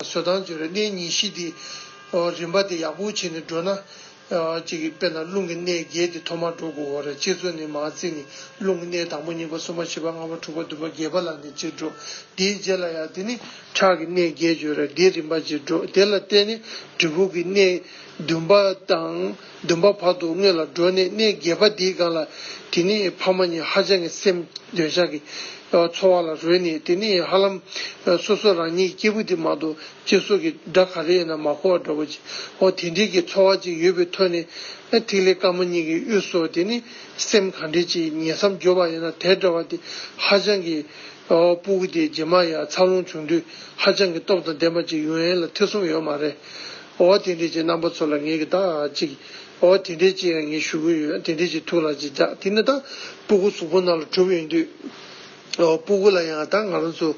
བཟོད་དང་བརྗོད་པའི་གནས་གཉིས་གཤིས་ཏེ། རིམ་པ་དེ་ཡག་པོ་བྱས་ནས་བགྲོད་ན། ཅིག་གིས་དཔེར་ན་རླུང་གི་གནས་བརྒྱད་དེ་ཐོག་མར་འགྲོ་དགོས་བར་ཅེར་ཚོན་ནི་མ་བརྩིས་ནས་རླུང་གི་གནས་དང་པོ་གཉིས་པ་གསུམ་པ་བཞི་པ་ལྔ་པ་དྲུག་པ་བདུན་པ་བརྒྱད་པ་ལ་ནི་ཅིར་འགྲོ། དེའི་རྗེས་ལ་ཡང་དེ་ནི། ཁྲག་གི་གནས་བརྒྱད་བརྗོད་ལ་དེའི་རིམ་པ་ཅིར་འགྲོ་དེ་ལ་བརྟེན་ནས་གྲི་གུག་གི་གནས་བདུན་པ་དང། བདུན་པ་བར་དུ་སྔོན་ལ་སྒྲོལ་ནས་གནས་བརྒྱད་པ་འདིའི་སྒང་ལ་དེ་ནས་ཕ་མ་གཉིས་ཧ་ཅང་གི་སེམས་འདོད་ཆགས་ཀྱི་འཚོ་བ་ལ་རོལ་ནས་དེ་ནས་ཧ་ལམ་སོ་སོ་རང་ཉིད་སྐྱེས་བུ་དེ་མ་གཏོགས་གཅིག་སྲོག་གི་སྒྲ་ག་རེ་ཡིན་ན་མ་གོ་བ་འདྲ་བོ་ཅིའོ་དེ་འདྲིའི་གི་འཚོ་བ་ཅིག་ཡོད་པའི་ཐོད་ནས་ཐིག་ལེ་དཀར་མོ་གཉིས་ཀྱི་དབུས་སུ་དེ་ནི་སེམས་གང་འདྲིས་ཅིག་ཉེ་མཚམས་སྦྱོར་བ་ཡིན་ན་དེ་འདྲ་བ་དེ་ཧ་ཅང་གི་སྤུ་གུ་དེ་རྗེས་མ་ཡ་མཚར་ལོངས་བྱུང་དུས་ཧ་ཅང་གི་སྟོབས་དང་ལྡན་པ་ཅིག་ཡུན་ཨེན་ལ་ཐེ་ཚོམ་ཡོད་མ་རེད། འོ་དེ་འདྲས་ཀྱི་རྣམ་པ་ཚོ་ལ་ངེད་ཀྱིས་དག་ཅིག། འོ་དེ་འདྲས་ཀྱི་ཡང་ངས་ཞུ་གི་ཡོད་དེ་འདྲས་ཀྱི་ཐུགས་ལ་ཅིག་རྒྱག་དེ་ནི་ད་སྤུ་གུ་གཟུགས་པོ་ནང་ལ་གྲུབ་ཡོད་དུས། འོ་སྤུ་གུ་ལ་ཡང་ད་ང་རང་ཚོ།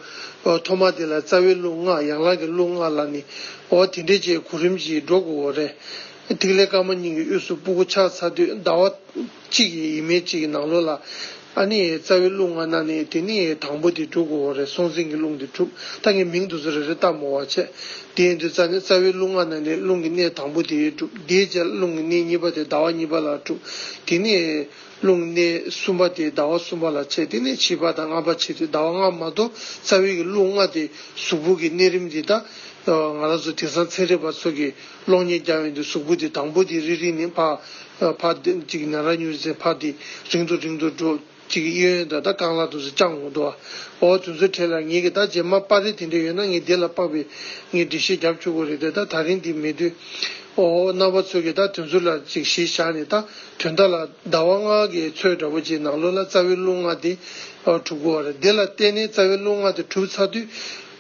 འོ་ཐོག་མ་དེ་ལ་རྩ་བའི་གླུ་ངག་ཡང་ལག་གི་གླུ་ངག་ལ་ནི། འོ་དེ་འདྲས་ཀྱི་གོ་རིམ་གྱིས་འགྲོ་དགོས་འོ་རེད། ཐིག་ལེ་དཀར་མོ་སྙིང་གི་དབུས་སུ་སྤུ་གུ་ཆགས་ཚར་དུས་ཟླ་བ། གཅིག་ཡིན་ཡིན་མིན་གཅིག་ནང་ལོགས་ལ། ཨ་ནི་ཡའི་རྩ་བའི་རླུང་ང་ན་ནི་དེ་ནི་ཡའི་དང་པོ་དེ་དྲུག་གོ་རེ་སོང་ཟིན་གྱི་རླུང་དེ་དྲུག་ད་ངས་མིང་དུ་སོ་རེ་རེ་བཏགས་མོ་བ་བྱས། དེ་ཡིན་དུས་རྩ་ནི་རྩ་བའི་རླུང་ང་ན་ནི་རླུང་གི་གནས་དང་པོ་དེ་ཡའི་དྲུག་དེའི་རྗེས་རླུང་གི་གནས་གཉིས་པ་དེ་ཟླ་བ་གཉིས་པ་ལ་དྲུག་དེ་ནི་ཡའི་རླུང་གི་གནས་གསུམ་པ་དེ་ཟླ་བ་གསུམ་པ་ལ་བྱས་དེ་ནི་བྱིས་པ་དང་ལྔ་པ་བྱས་དུས་ཟླ་བ་ལྔ་མ་གཏོགས་རྩ་བའི་གི་རླུང་ལྔ་དེ་གཟུགས་པོ་གི་གནས་རིམ་དེ་དག་ང་ལ་སོ་དེང་སང་ཚན་རིག་པ་ཚོ་གི་གློག་བརྙན་རྒྱག་ཡོང་དུས་གཟུགས་པོ་དེ་དང་པོ་དེ་རིལ་རིལ་ནས་འཕག། འཕག། ཅིག་ན་ར་མྱུར་ཟས་འཕག་དེ་རིང་དུ་རིང་དུ་འགྲོ། ཅིག་གཡས་གཡོན་དང་ད་རྐང་ལག་ཏུ་སུ་བཅང་འོང། འོ་དུས་ཚོད་ཕྲལ་ལ་ངེད་ཀྱིས་ད་རྗེས་མ་པར་རིས་དེ་འདྲས་ཡོད་ན་ངས་དེ་ལ་དཔག་པའི་ངས་འགྲེལ་བཤད་བརྒྱབ་ཆོག་གོ་རེད་དེ་ད་ད་རིང་དེ་མེད་དུས། འོ་རྣམ་པ་ཚོས་ཀྱིས་ད་དུས་ཚོད་ལ་ཅིག་ཞེས་བཞག་ནས་ད་དུས་མཐའ་ལ་ཟླ་བ་ལྔ་གའི་ཚོད་འདྲ་པོ་ཅིག་ནང་ལོགས་ལ་རྩ་བའི་རླུང་ལྔ་དེ་གྲུབ། འོ་རེད་དེ་ལ་བརྟེན་ནས་རྩ་བའི་རླུང་ལྔ་དེ་གྲུབ་ཚར་དུས།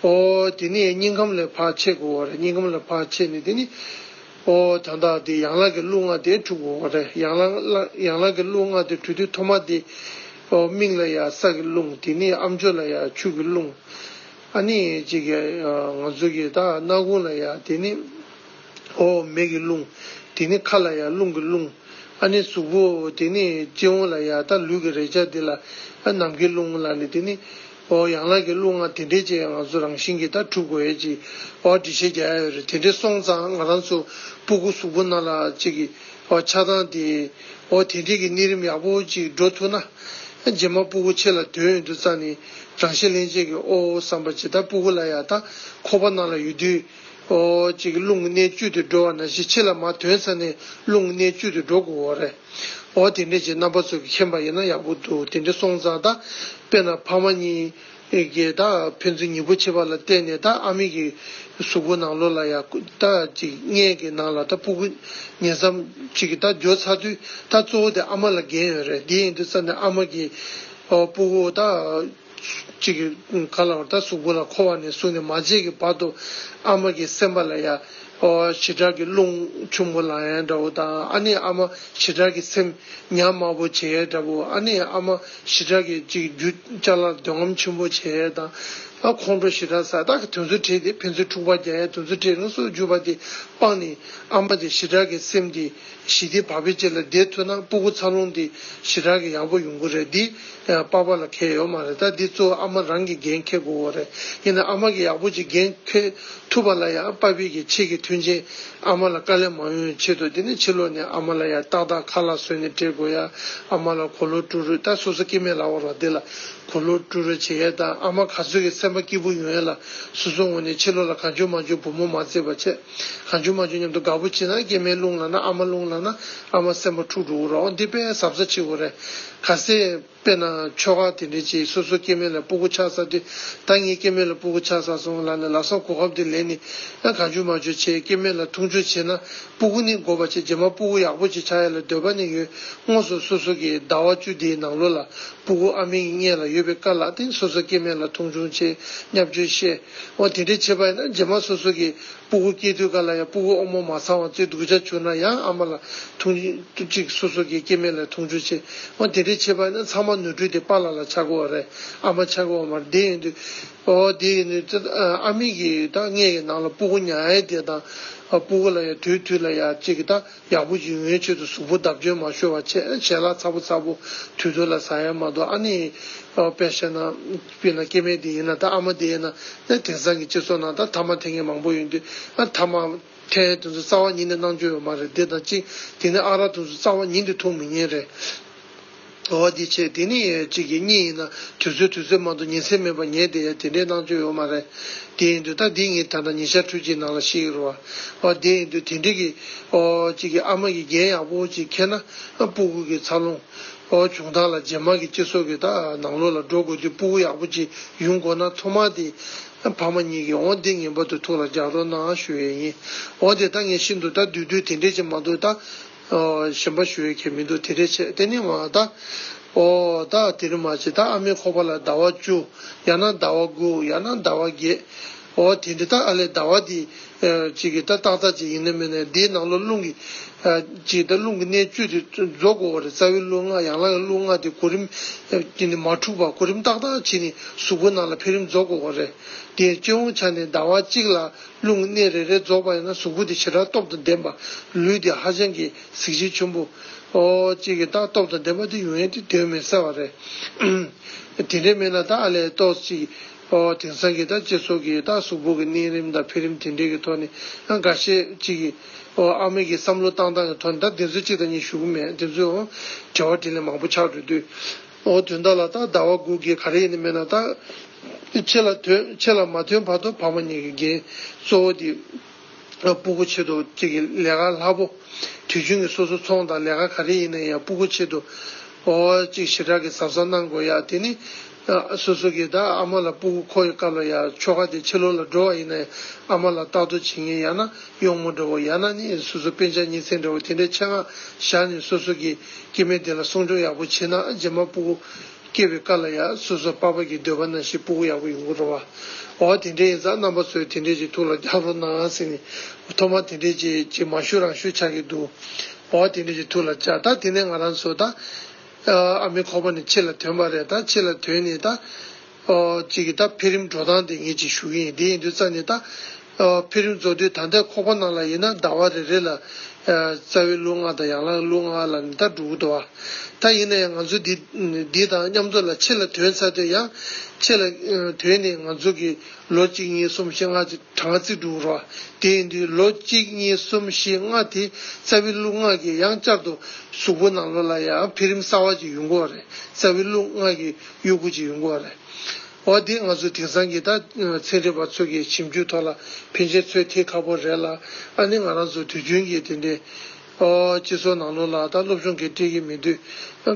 ཨོ། དེ་ནི་སྙིང་ཁམས་ལས་བག་ཕྱེད་དགུ་བ་རེད་སྙིང་ཁམས་ལས་བག་ཕྱེད་ནི་དེ་ནི། ཨོ། དང་དག་དེ་ཡང་ལག་གི་རླུ་ལྔ་དེ་དྲུག་བོ་རེད་ཡང་ལག་ཡང་ལག་གི་རླུ་ལྔ་དེ་དྲུག་དེ་མཐོ་མ་དེ། ཨོ། མིག་ལ་ཡང་ས་གི་རླུང་དེ་ནི་ཨ་མཆོད་ལ་ཡང་ཆུ་གི་རླུང། ཨ་ནི་ཅིག་གི། ང་ཚོ་གི་ད་སྣ་ཁུང་ལ་ཡང་དེ་ནི། ཨོ། མེ་གི་རླུང། དེ་ནི་ཁ་ལ་ཡང་རླུང་གི་རླུང། ཨ་ནི་གཟུགས་པོ། དེ་ནི་སྤྱི་བོ་ལ་ཡང་ད་ལུས་ཀྱི་རེག་བྱ་དེ་ལ་ཨ། ནམ་མཁའི་རླུང་ལ་ནི་དེ་ནི། ཨོའོ་ཡང་ལག་གི་གླུ་ང་དེ་འདྲའི་ཅེས་ང་ཚོ་རང་བཞིན་གྱིས་ད་གྲུབ་གོ་ཨེ་ཅི། ཨོའོ་འདྲི་བྱེད་རྒྱ་ཡོད་རེད་དེ་འདྲས་སོང་ཙང་ང་རང་ཚོ་སྤུ་གུ་གཟུགས་པོ་ན་ལ་ཅིག་གི་ཨོའོ་ཆགས་སྡང་དེ། ཨོའོ་དེ་འདྲས་ཀྱི་གནས་རིམ་ཡག་པོ་ཅིག་འགྲོ་ཐུབ་ན། རྗེས་མ་སྤུ་གུ་ཆེ་ལ་དོན་ཡོད་དུ་ཙང་ནི་རང་བཞིན་ལྷན་སྐྱེས་ཀྱི་ཨོའོ་བསམ་པ་ཇི་ལྟར་སྤུ་གུ་ལ་ཡག་ད་ཁོ་པ་ན་ལ་ཡོད་དུས། ཨོའོ་ཅིག་གླུ་ང་གནས་བཅུད་དུ་འགྲོ་བ་ན་ཞིག་ཆེ་ལ་མ་དོན་ཙང་ནི་གླུ་ང་གནས་བཅུད་དུ་འགྲོ་དགོས་རེད། ཨོ་དེ་འདྲས་ཀྱི་རྣམ་པ་ཚོ་གི་མཁྱེན་པ་ཡིན་ན་ཡག་པོ་འདུག་དེ་འདྲས་སོང་ཙང་ད་དཔེར་ན་ཕ་མ་གཉིས་ཀྱིས་ད་ཕན་ཚུན་ཉིན་པོ་ཕྱེད་པ་ལ་བལྟས་ནས་ད་ཨ་མེས་ཀྱི་གཟུགས་པོ་ནང་ལོག་ལ་ཡ་ད་ཅིག་མངལ་གྱི་ནང་ལ་ད་སྤུ་གུ་ཉེ་ཙམ་ཅིག་གི་ད་འགྱོ་ཚར་དུས་ད་གཙོ་བོ་དེ་ཨ་མ་ལ་འགན་ཡོད་རེད་དེ་ཡིན་དུས་ཙང་ནས་ཨ་མ་གྱིས་སྤུ་གུ་ད། གཅིག་ག་ལ་བར་ད་གཟུགས་སྐུ་ལ་འཁོར་བ་ནས་བཟུང་ནས་མ་བརྗེད་ཀྱི་བར་དུ། ཨ་མ་གི་སེམས་པ་ལ་ཡ། བྱེ་བྲག་གི་རླུང། ཆུང་མོ་ལ་ཡ་འདྲ་བོ་དང་ཨ་ནེ་ཨ་མ་བྱེ་བྲག་གི་སེམས། ཉག་དམར་པོ་བྱེ་ཡ་འདྲ་བོ་ཨ་ནེ་ཨ་མ་བྱེ་བྲག་གི་གཅིག་རྒྱུ་ལྕགས་ལར་འདོད་རྔམ་ཆེན་པོ་བྱེ་ཡ་དང། ཁོང་ཁྲོ་བྱེ་བྲག་ས་བདག་གི་དོན་ཚུལ་ཁྲིད་དེ་ཕན་ཚུན་འཁྲུག་པ་རྒྱག་ཡ་དོན་ཚུལ་ཁྲིད་རང་སོར་གྱུར་པ་དེ་སྤངས་ནས་ཨ་མ་དེ་བྱེ་བྲག་གི་སེམས་དེ། ཞི་བདེ་བག་ཕེབས་བཅས་ལ་བསྡད་ཐུབ་ན་སྤུ་གུ་འཚར་ལོངས་འདི་ཞི་དྲག་གི་ཡག་པོ་ཡོང་གི་རེད་འདི་པགས་པ་ལ་ཁེལ་ཡོད་མ་རེད་ད་འདི་གཙོ་བོ་ཨ་མ་རང་གིས་འགན་འཁེལ་དགོས་གོ་རེད་ཡིན་ན་ཨ་མ་གིས་ཡག་པོ་ཅིག་འགན་འཁེལ་ཐུབ་པ་ལ་ཡང་པགས་ཕེབས་ཀྱི་ཆེད་ཀྱི་མཐུན་རྐྱེན་ཨ་མ་ལ་དཀའ་ལས་མང་ཡོང་ཆེད་དུ་འདི་ནས་ཕྱི་ལོག་ནས་ཨ་མ་ལ་ཡང་ཏག་ཏག་ཁ་ལག་བཟོས་ནས་སྤྲད་དགོས་ཡ་ཨ་མ་ལ་གོ་ལོ་བཀྲུ་རོས་ད་སོ་སོ་སྐྱེ་དམན་ལ་བར་བ་འདི་ལ་གོ་ལོ་བཀྲུ་རོས་བྱེད་ཡས་ད་ཨ་མ་ག་ཚོད་ཀྱི་སེམས་པ་སྐྱིད་པོ་ཡོང་ཡས་ལ་སོ་སོ་ངོ་ནས་ཕྱི་ལོག་ལ་ག་འཇོག་མ་འཇོག་བུ་མོ་མ་བརྩེ་བ་བྱས། ལྷ་འཇུ་མ་འཇུ་མཉམ་དུ་དགའ་བོ་བྱེད་ན་སྐྱེས་མའི་རླུང་ལག་ན་ཨ་མ་རླུང་ལག་ན་ཨ་མ་སེམས་པ་འཁྲུག་འགྲོ་འུ་རོགས་འདི་དཔེ་ཟབ་ས་ཆེའོ་རེད། ག་སྲས་དཔེ་ན་ཆོལ་ཁ་དེ་འདྲའི་ཅིག་སོ་སོ་སྐྱེས་མའི་ལ་སྤུ་གུ་ཆགས་ས་དེ་ད་ངས་སྐྱེས་མའི་ལ་སྤུ་གུ་ཆགས་ས་སོང་ལ་ནི་ལག་སོགས་གོ་ཁབ་དེ་ལེན་ནི་ཨ་ག་འཇུ་མ་འཇུ་བྱས་སྐྱེས་མའི་ལ་འཐུང་འཇུ་བྱས་ན་སྤུ་གུ་ནི་འགོ་བ་ཆེ་རྗེས་མ་སྤུ་གུ་ཡག་པོ་ཅིག་ཆགས་ཡ་ལ་འདོད་པ་ནི་ཡོད་དངོས་སུ་སོ་སོ་གི་ཟླ་བ་བཅུ་དེའི་ནང་ལོ་ལ་སྤུ་གུ་ཨ་མའི་ངན་ལ་ཡོད་པའི་དཀའ་ལག་དེ་སོ་སོ་སྐྱེས་མའི་ལ་འཐུང་འཇུ་བྱས་སྙབ་འཇུ་བཤད། འོ་དེ་འདྲའི་བྱེད་པ་ཡིན་ན་རྗེས་མ་སོ་སོ་གི་སྤུ་གུ་སྐྱེས་དུས་ག་ལ་ཡང་སྤུ་གུ་ཨོག་མོ་མ་ཚང་བ་བཅས་སྡུག་ཅག་བྱུང་ན་ཡང་ཨ་མ་ལ་ཐུག། གཅིག་སོ་སོ་གི་སྐྱེ་དམན་ལ་ཐུག་འཇུག་བྱེད། འོ་དེ་འདྲའི་བྱེད་པ་ཡིན་ན་ཚང་མ་ནོར་འཁྲུལ་དེ་པཱ་ལ་ལ་ཆགས་དགོས་བ་རེད་ཨ་མ་ཆགས་དགོས་བ་མ་རེད་དེ་ཡིན་དུས། འོ་དེ་ཡིན་དུས། ཨ་མི་གིས་ད་སྔས་ཀྱི་ནང་ལ་སྤུ་གུ་ཉག་ཡ་དེ་དང། སྤུ་གུ་ལ་ཡ་དུས་དུས་ལ་ཡ་བཅས་ཀྱི་ད། ཡག་པོ་ཞིག་ཡོང་བའི་ཆེད་དུ་གཟུགས་པོ་བརྡབ་སྐྱོན་མ་ཤོར་བ་བྱས་བྱས་ལ་ཚ་པོ་ཚ་པོ་དུད་དུད་ལ་ཟ་ཡ་མ་གཏོགས་ཨ་ནེ། དཔེར་བཤད་ན། དཔེར་ན་སྐྱེས་དམན་དེ་ཡིན་ན་དང་ཨ་མ་དེ་ཡིན་ན། ཨེ་དེང་སང་གི་སྤྱི་ཚོགས་ནང་དང་ཐ་མ་དེ་ངས་མང་པོ་ཡོང་དུས་ཨ་ཐ་མ། ཐའི་དེ་ཚོ་རྩ་བ་ཉིད་ནས་སྣང་ཆུང་ཡོད་མ་རེད་དེ་དང་གཅིག་དེ་ནས་ཨ་ར་དེ་ཚོ་རྩ་བ་ཉིད་དུ་ཐུག་མི་ཉན་རེད། འགྲོ་བ་འདི་ཆེ་དེ་ནི་གཅིག་གིས་གཉིས་ཡིན་ན་དུས་ཚོད་དུས་ཚོད་མང་དུ་ཉིན་སེམས་མེད་པར་ཉལ་བསྡད་ཡ་དེ་འདྲའི་སྣང་ཚུལ་ཡོད་མ་རེད། དེ་ཡིན་དུས་ད་འདི་ངས་ད་ལྟ་ཉི་ཤར་ཁྲུས་ཀྱིས་ནང་ལ་ཤི་ཡོད་རོ། ཨོ་དེ་ཡིན་དུས་དེ་འདྲི་གི། ཨོ། གཅིག་གིས་ཨ་མ་གིས་རྒྱན་ཡག་པོ་ཅིག་འཁྱེར་ན། སྤུ་གུ་གི་འཚར་ལོངས། ཨོ་བྱུང་ཐག་ལ་རྗེས་མར་གི་སྤྱི་སོ་གི་ད་ནང་ལོགས་ལ་འགྲོ་དགོས་དུས་སྤུ་གུ་ཡག་པོ་ཅིག་ཡུན་དགོ་ན་མཚོ་མ་དེ། ཕ་མ་གཉིས་གིས་ཨོ་འདི་ངན་པ་དུ་ཐུག་ལ་རྒྱག་རོགས་གནང་ཨ་ཞུ་ཡས་ཡིན། ཨོ་དེ་ད་ངས་ཤི་འདུག་ད་དུས་དུས་དེ་འདྲས་ཅིག་མ་འདུག་ད། གཞན་པ་ཞུ་ཡོད་ཀྱི་མི་འདུག་དེ་འདྲའི་ཆེད་གཏན་ནི་མ་ད། ཨོ། ད་དེ་རིང་མ་བྱེད་ད་ཨ་མའི་ཁོག་པ་ལ་ཟླ་བ་བཅུ། ཡང་ན་ཟླ་བ་དགུ་ཡང་ན་ཟླ་བ་བརྒྱད། ཨོ་དེ་འདྲ་ད་ཨ་ལས་ཟླ་བ་འདི། ཅིག་གི་ད་ཏག་ཏག་ཅིག་ཡིན་ནི་མིན་ནི་དེའི་ནང་ལོ་རླུང་གི། ཅིག་ད་རླུང་གི་གནས་བཅུ་དེ་རྫོགས་དགོས་བ་རེད་རྩ་བའི་རླུང་ལྔ་ཡང་ལག་གི་རླུང་ལྔ་དེ་གོ་རིམ། ཅིག་ནི་མ་འཁྲུགས་པར་གོ་རིམ་ཏག་ཏག་བྱས་ནི་གཟུགས་པོ་ནང་ལ་འཕེལ་རིམ་རྫོགས་དགོས་བ་རེད། དེའི་སྤྱི་བོའི་ཆ་ནས་ཟླ་བ་གཅིག་ལ། རླུང་གི་གནས་རེ་རེ་རྫོགས་པ་ཡིན་ན་གཟུགས་སྐུ་དེ་ཇི་ལྟར་སྟོབས་དང་ལྡན་པ། ལུས་དེ་ཧ་ཅང་གི་གཟི་བརྗིད་ཆེན་པོ། ཨོ། ཅིག་གི་རྟགས་སྟོབས་དང་ལྡན་པ་དེ་ཡུན་ཡན་དུ་དོན་མི་གསལ་བ་རེད། དེ་འདྲའི་མི་ལ་རྟགས་ཨ་ལས་རྟོགས་ཅིག། ཨོ། དེང་སང་གི་རྟགས་ཅེས་སོགས་ཀྱི་རྟགས་གཟུགས་པོ་གི་གནས་རིམ་དང་འཕེལ་རིམ་དེ་འདྲའི་གི་ཐོག་ནས་ཨང་ག་ཤེས་ཅིག་གི། ཨོ། ཨ་མེས་ཀྱི་བསམ་བློ་བཏང་སྟངས་ཀྱི་ཐོག་ནས་ད་དེ་ཚོ་གཅིག་དང་གཉིས་ཞུ་གི་མེད་དེ་ཚོའི་འོང། དྲི་བ་དྲིས་ལན་མང་པོ་ཆགས་འགྲོ་དུས། ཨོ་དུས་འདའ་ལ་ད་ཟླ་བ་དགུ་གི་ག་རེ་ཡིན་མེད་ན་ད། ཁྱེད་ལ་ཐོན་ཁྱེད་ལ་མ་ཐོན་བར་དུ་ཕ་མ་གཉིས་ཀྱི་འགན་གཙོ་བོ་འདི། སྤུ་གུ་ཆེད་དུ་ཁྱེད་ཀྱི་ལས་ཀ་ལྷ་བོ། དུས་རྒྱུན་གྱི་སོ་སོ་ཚོང་དང་ལས་ཀ་ག་རེ་ཡིན་ན་ཡང་སྤུ་གུ་ཆེད་དུ། ཨོ། ཅིག་ཞི་དྲག་གི་ཟབ་ས་གནང་དགོས་ཡ་དེ་ནི། སོ་སོ་གྱི་ད་ཨ་མ་ལ་སྤུ་གུ་མཁོ་ཡི་སྐབས་ལ་ཡ་ཆོ་ག་དེ་ཕྱི་ལོག་ལ་འགྲོ་བ་ཡིན་ན་ཡང་ཨ་མ་ལ་རྟག་ཏུ་བྱིན་ངེས་ཡ་ན་གཡོག་མོ་འདྲ་བོ་ཡ་ན་ནི་སོ་སོ་དཔེ་ཆ་གཉིས་ཚན་འདྲ་བོ་དེ་འདྲའི་ཆེད་སྔགས་བཞག་ནས་སོ་སོ་གྱི། སྐྱེ་མེད་དེ་ལ་སྲུང་སྐྱོང་ཡག་པོ་བྱེད་ན་རྗེས་མ་སྤུ་གུ་སྐྱེ་བའི་སྐབས་ལ་ཡང་སོ་སོ་དཔའ་བར་གྱི་འདོད་པ་ན་ཞིག་སྤུ་གུ་ཡག་པོ་ཡོང་གི་རོ། འོ་དེ་འདྲས་ཡིན་ཙང་རྣམ་པ་ཚོས་དེ་འདྲས་ཀྱི་ཐུགས་ལ་རྒྱག་རོགས་གནང་ཟེར་ནས་ཐོག་མར་དེ་འདྲས་ཀྱི་ཀྱི་མ་ཞུ་རང་ཞུ་ཆགས་ཀྱི་འདུག་འོ་དེ་འདྲས་ཀྱི་ཐུགས་ལ་རྒྱག་ད་དེ་ནས་ང་རང་ཚོས་ད་ཨ་མའི་ཁོག་པ་ནས་ཕྱི་ལ་དོན་པ་རེད་ད་ཕྱི་ལ་དོན་ནས་ད། ཅིག་གིས་ད་འཕེལ་རིམ་འགྲོ་སྟངས་དེ་ངེད་ཅིག་ཞུ་གི་ཡིན་དེ་ཡིན་དུས་རྩ་ནས་ད་འཕེལ་རིམ་རྫོགས་དུས་ད་ལྟའི་ཁོག་པ་ནང་ལ་ཡིན་ན་ཟླ་བ་རེ་རེ་ལ་རྩ་བའི་ལུགས་ལྔ་དང་ཡང་ལ་ལུགས་ལྔ་ལ་ནི་ད་འགྲོ་གི་འདུག་བ། ད་ཡིན་ན་ཡང་ང་ཚོ་འདི་འདི་དང་མཉམ་ཚོ་ལ་ཕྱི་ལ་དོན་ཚར་དུས་ཡང་ཕྱི་ལ་དོན་ནི་ང་ཚོ་གི་ལོ་གཅིག་གཉིས་གསུམ་བཞི་ལྔ་ཅིག་གྲངས་ཀ་རྩིས་འགྲོ་གི་རོ། དེ་ཡིན་དུས་ལོ་གཅིག་གཉིས་གསུམ་བཞི་ལྔ་དེ་རྩ་བའི་ལུགས་ལྔ་གིས་ཡང་བསྐྱར་དུ་གཟུགས་པོ་ནང་ལོ་ལ་ཡང་འཕེལ་རིམ་གསར་བ་ཅིག་ཡོང་གི་བ་རེད་རྩ་བའི་ལུགས་ལྔ་གིས། གཡོ་འགུལ་གྱི་ཡོང་སྒོ་རེད། འོ་དེ་ང་ཚོ་དེང་སང་གི་ད་ཚན་རིག་པ་ཚོ་གི་ཞིབ་འཇུག་ཐོག་ལ་ཕན་ཆེན་ཚོད་ཐིག་ཁ་པོ་རེད་ལ་ཨ་ནི་ང་རང་ཚོ་དུས་རྒྱུན་གྱི་དེ་འདྲའི་སྤྱི་ཚོགས་ནང་ལོག་ལ་ད་སློབ་སྦྱོང་གི་སྤྲེལ་གྱི་མི་འདུག་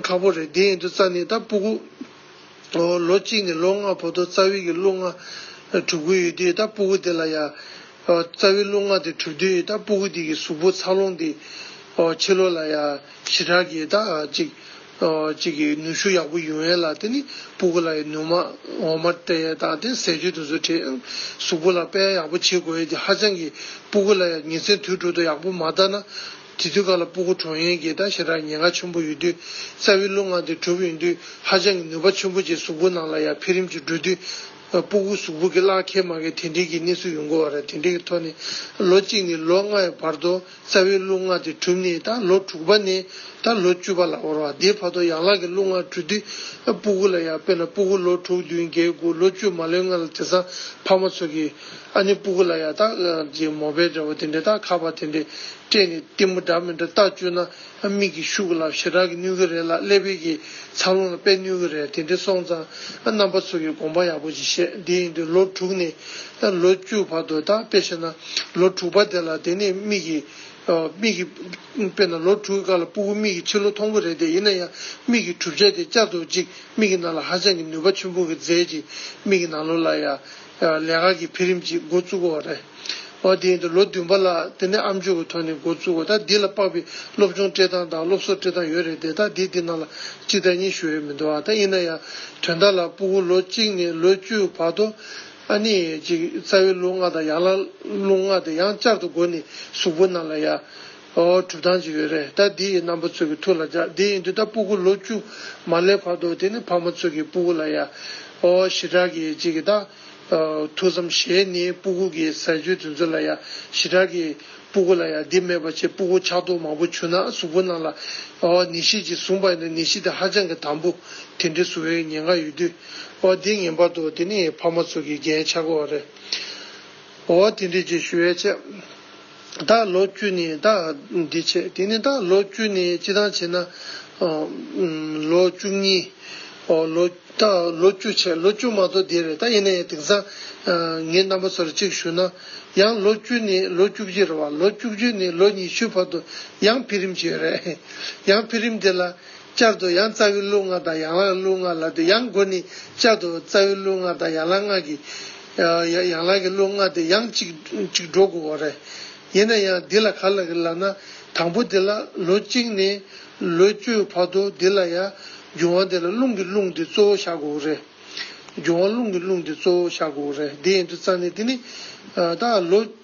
ཁ་པོ་རེད་དེ་ཡིན་དུ་རྩ་ནི་ད་སྤུ་གུ། ལོ་གཅིག་ནས་ལོ་ལྔ་བོ་དོ་རྩ་དབྱི་གི་གླུ་ལྔ་གྲུབ་གི་ཡོད་དུས་ད་སྤུ་གུ་དེ་ལ་ཡ། རྩ་དབྱི་གླུ་ལྔ་དེ་གྲུབ་དུས་ད་སྤུ་གུ་དེ་གི་གཟུགས་པོ་འཚར་ལོངས་དེ། ཕྱི་ལོ་ལ་ཡ་ཞི་དྲག་གི་ད་ཅིག། གཅིག་གིས་ནུ་ཞོ་ཡག་པོ་ཡོད་ལ་དེ་ནི་སྤུ་གུ་ལ་ཡི་ནུ་མ་འོ་མ་དེ་དང་དེ་ཟས་སྤྱོད་དུ་བཟོ་བྲེལ་ཡང་གཟུགས་པོ་ལ་དཔལ་ཡག་པོ་བྱེད་དགོས་ཀྱི་ཧ་ཅང་གི་སྤུ་གུ་ལ་ཡ་ཉི་ཚེ་དུས་དྲུག་ཏུ་ཡག་པོ་མ་བཏང་ན་དེ་དུས་ག་ལ་སྤུ་གུ་གྲོངས་ཡོན་གྱི་ད་ཞེ་དྲག་ཉེན་ཁ་ཆེན་པོ་ཡོད་དུས་རྩ་བའི་རླུ་ང་དེ་གྲུབ་ཡོན་དུས་ཧ་ཅང་གི་ནུས་པ་ཆེན་པོ་བྱེད་གཟུགས་པོ་ནང་ལ་ཡ་འཕེལ་རིམ་གྱི་འགྲོ་དུས་སྤུ་གུ་གཟུགས་པོ་གི་བརླག་ཁེ་མ་ཁེ་དེ་འདྲིའི་གི་གནས་ཚུལ་ཡོང་གི་བ་རེད་དེ་འདྲི་གི་ཐོག་ནས་ལོ་གཅིག་ནས་ལོ་ལྔའི་བར་དུ། རྩ་བའི་རླུང་ལྔ་དེ་གྲུབ་ནས་ད་ལོ་དྲུག་པ་ནས་ད་ལོ་བཅུ་པ་ལ་བོར་བ་དེའི་བར་དུ་ཡང་ལག་གི་རླུང་ལྔ་དྲུག་དུས་སྤུ་གུ་ལ་ཡང་དཔེར་ན་སྤུ་གུ་ལོ་དྲུག་བདུན་བརྒྱད་དགུ་ལོ་བཅུ་མ་ལོན་ལྔ་ལ་དེ་སང་ཕ་མ་ཚོ་གིས་ཨ་ནི་སྤུ་གུ་ལ་ཡང་ད་གི་མོ་བལ་འདྲ་བོ་དེ་འདྲས་ད་ཁ་བ་དེ་འདྲས་སྤྲད་ནས་གཏི་མུག་འདྲ་མི་འདྲ་ལྟ་བཅུག་ན། མིག་གིས་ཤུགས་ལ་ཞེ་དྲག་གིས་ནུས་ཀྱི་རེད་ལ་ཀླད་པས་ཀྱིས་འཚར་ལོངས་ལ་དཔེ་ནུས་ཀྱི་རེད་དེ་འདྲས་སོང་ཙང་རྣམ་པ་ཚོ་ཡི་དགོངས་པ་ཡག་པོ་ཅིག་བཤད་དེ་ཡིན་དུས་ལོ་དྲུག་ནས་ལོ་བཅུ་བར་དུ་དག་དཔེ་བཤད་ན་ལོ་དྲུག་པ་དེ་ལ་དེ་ནས་མིག་གིས་མིག་གིས་དཔེ་ན་ལོ་དྲུག་གི་སྐར་ལ་སྤུ་གུ་མིག་གིས་ཕྱི་ལོ་མཐོང་གི་རེད་དེ་ཡིན་ན་ཡང་མིག་གིས་གྲུབ་ཆ་དེ་བསྐྱར་དུ་གཅིག་མིག་གི་ནང་ལ་ཧ་ཅང་གི་ནུས་པ་ཆེན་པོ་གིས་མཛད་ཅིག་མིག་གི་ནང་ལོ་ལ་ཡ། ལས་ཀ་གི་འཕེལ་རིམ་གྱིས་མགོ་བཙུགས་པ་བ་རེད། བ་དེ་ཡིན་དུ་ལོ་བདུན་པ་ལ་དེ་ནས་ཨ་མཆོད་ཀྱི་ཐོག་ནས་མགོ་བཙུགས་བ་ད་འདི་ལ་དཔག་པའི་སློབ་སྦྱོང་སྤྲད་སྟངས་དང་སློབ་གསོ་སྤྲད་སྟངས་ཡོད་རེད་དེ་ད་འདི་འདི་ནང་ལ་གཅིག་དང་གཉིས་ཞུ་ཡོད་མི་འདུག་ཨ་ད་ཡིན་ན་ཡང་དོན་དག་ལ་སྤུ་གུ་ལོ་གཅིག་ནས་ལོ་བཅུའི་བར་དུ་ཨ་ནི་ཅིག་རྩ་བའི་ལུགས་ལྔ་དང་ཡང་ལ་ལུགས་ལྔ་དེ་ཡང་བསྐྱར་དུ་སྒོ་ནས་གཟུགས་པོ་རྣམས་ལ་ཡང། ཨོ་གྲུབ་ཐང་ཅིག་ཡོད་རེད་ད་འདི་ཡི་རྣམ་པ་ཚོད་ཀྱི་ཐུགས་ལ་འཇགས་འདི་ཡི་འདི་ད་སྤུ་གུ་ལོ་བཅུ་མ་སླེབས་བར་དུ་དེ་ནི་ཕ་མ་ཚོད་ཀྱི་སྤུ་གུ་ལ་ཡ། ཨོ་ཞི་དྲག་གི་ཅིག་གི་ད། ཐུགས་བསམ་ཞེས་ནི་སྤུ་གུ་གི་ཟས་སྤྱོད་དེ་ཚོད་ལ་ཡ། ཞི་དྲག་གི། སྤུ་གུ་ལ་ཡ་འདི་མེད་པ་ཆེ་སྤུ་གུ་ཆགས་རྡོག་མང་པོ་བྱུ་ན་གཟུགས་པོ་རྣམས་ལ། ཨོ་ནི་ཤིད་ཅིག་བཟུང་པ་ཡིན་ནི་ཤིད་དེ་ཧ་ཅང་གི་དམ་པོ། དེ་འདྲའི་བཟུང་བའི་ཉེན་ཁ་ཡོད་དུས། ཨོ་འདི་ངན་པར་དུ་དེ་ནི་ཕ་མ་ཚོད་ཀྱི་རྒྱན་ཆ་གོ་བ་རེད། ཨོ་དེ་འདྲའི་རྗེས་ཞུ་བས་ཆེ། བདག་ལོ་བཅུ་ནི་བདག་འདི་བྱེད་དེ་ནི་བདག་ལོ་བཅུ་ནི་ཅི་དང་བྱེད་ན། ལོ་བཅུ་གཉིས། བདག་ལོ་བཅུ་བྱེད་ལོ་བཅུ་མ་གཏོགས་འདི་རེད་ད་ཡིན་ན་ཡང་དེང་སང། ངའི་རྣམ་པ་སོར་གཅིག་ཞུ་ན། ཡང་ལོ་བཅུ་ནི་ལོ་བཅུ་བཞི་རེད་བ་ལོ་བཅུ་བཞི་ནི་ལོ་ཉི་ཤུའི་བར་དུ་ཡང་འཕེལ་རིམ་ཅིག་རེད། ཡང་འཕེལ་རིམ་དེ་ལ་བསྐྱར་དུ་ཡང་རྩ་བའི་གླུ་ལྔ་དང་ཡང་ལག་གླུ་ལྔ་ལ་དེ་ཡང་དགོས་ནི་བསྐྱར་དུ་རྩ་བའི་གླུ་ལྔ་དང་ཡང་ལག་ལྔ་གི། ཡང་ལག་གི་གླུ་ལྔ་དེ་ཡང་གཅིག་གཅིག་འགྲོ་དགོས་བ་རེད། ཡིན་ན་ཡང་འདི་ལ་ག་ལ་གི་ལགས་ན་དང་པོ་དེ་ལ་ལོ་གཅིག་ནས་ལོ་བཅུའི་བར་དུ་འདི་ལ་ཡང་རྒྱུན་དབང་དེ་ལ་རླུང་གི་རླུང་དེ་གཙོ་བོ་བཞག་དགོས་བ་རེད། རྒྱུན་དབང་རླུང་གི་རླུང་དེ་གཙོ་བོ་བཞག་དགོས་བ་རེད་འདི་ཡིན་དུ་རྩ་ནི་དེ་ནི། ད་ལོ།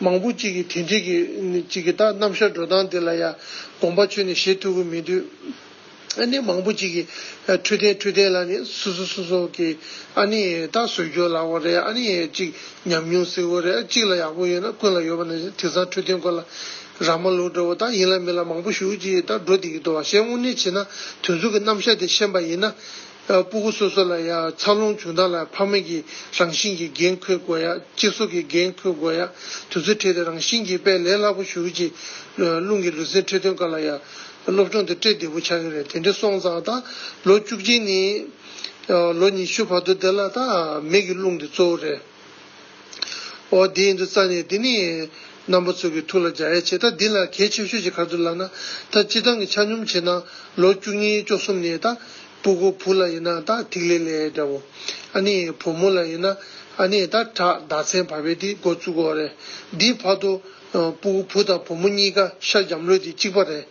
མང་པོ་གཅིག་གིས་དེ་འགྲིག་གི་ད་རྣམ་གཞག་འགྲོ་སྟངས་འདི་ལ་ཡང་དགོངས་པ་ཆོད་ནས་བཞེས་ཐུབ་ཀྱི་མི་འདུག་ཨ་ནེ་མང་པོ་གཅིག་གིས་འཕྲོད་བསྟེན་འཕྲོད་བསྟེན་ལ་ནི་སུ་སུ་སུ་སོགས་ཀྱིས་ཨ་ནེ་ད་བཟོད་སྐྱོ་ལ་བོ་རེད་ཨ་ནེ་གཅིག་ཉམས་མྱོང་བསིལ་བོ་རེད་གཅིག་ལ་ཡག་པོ་ཡོད་ན་ཀུན་ལ་ཡོད་པ་ན་དེང་སང་འཕྲོད་བསྟེན་སྐོར་ལ་ར་མ་ལུག་འདྲ་བོ་ད་ཡིན་ལ་མིན་ལ་མང་པོ་ཞུགས་ཀྱིས་ད་འགྲོ་བསྡད་ཀྱི་འདུག་བ་ཞེས་དངོས་གནས་བྱས་ན་དུས་མཚུངས་ཀྱི་རྣམ་གཞག་དེ་ཤེས་པ་ཡིན་ན། སྤུ་གུ་སོ་སོ་ལ་ཡང་འཚར་ལོངས་བྱུང་སྟངས་ལ་ཕ་མེས་ཀྱི་རང་བཞིན་གྱི་འགན་འཁུར་དགོས་ཡ་གཅིག་སྲོག་གི་འགན་འཁུར་དགོས་ཡ་དུས་ཚོད་ཁྲིད་དེ་རང་བཞིན་གྱིས་དཔེ་ལས་སླ་པོ་ཞུགས་ཀྱི། རླུང་གི་ལུས་སེམས་ཁྲིད་སྟོན་སྐབས་ལ་ཡང་སློབ་སྦྱོང་དེ་སྤྲེལ་བདེ་པོ་ཆགས་ཀྱི་རེད་དེ་འདྲའི་སོང་ཙང་ད་ལོ་བཅུ་གཅིག་ནས་ལོ་ཉི་ཤུ་བར་དུ་འདི་ལ་ད་མེས་ཀྱི་རླུང་འདི་གཙོ་བོ་རེད། ཨོ་དེ་ཡིན་དུ་རྩ་ནས་འདི་ནི། རྣམ་པ་ཚོགས་ཀྱི་ཐུགས་ལ་སྦྱར་ཡ་བྱེད་ད་འདི་ལ་གལ་ཆེ་ཤོས་ཞིག་གར་དུ་ལགས་ན་ད་སྤྱི་བཏང་གི་ཆ་སྙོམས་བྱེད་ན་ལོ་བཅུ་གཉིས་བཅོ་གསུམ་ནས་ད་སྤུ་གོ་བུ་ལ་ཡིན་ན་ད་ཐིག་ལེ་ལས་འདྲ་བོ། ཨ་ནི་བུ་མོ་ལ་ཡིན་ན་ཨ་ནི་ད་བྲག་ཟླ་མཚན་བར་པའི་དེ་སྒོ་བཙུག་གོ་རེད་འདིའི་བར་དུ། པུའུ་བུ་དང་བུ་མོ་གཉིས་ཀ་ཤར་འབྱམས་ལོད་དེ་གཅིག་པ་རེད།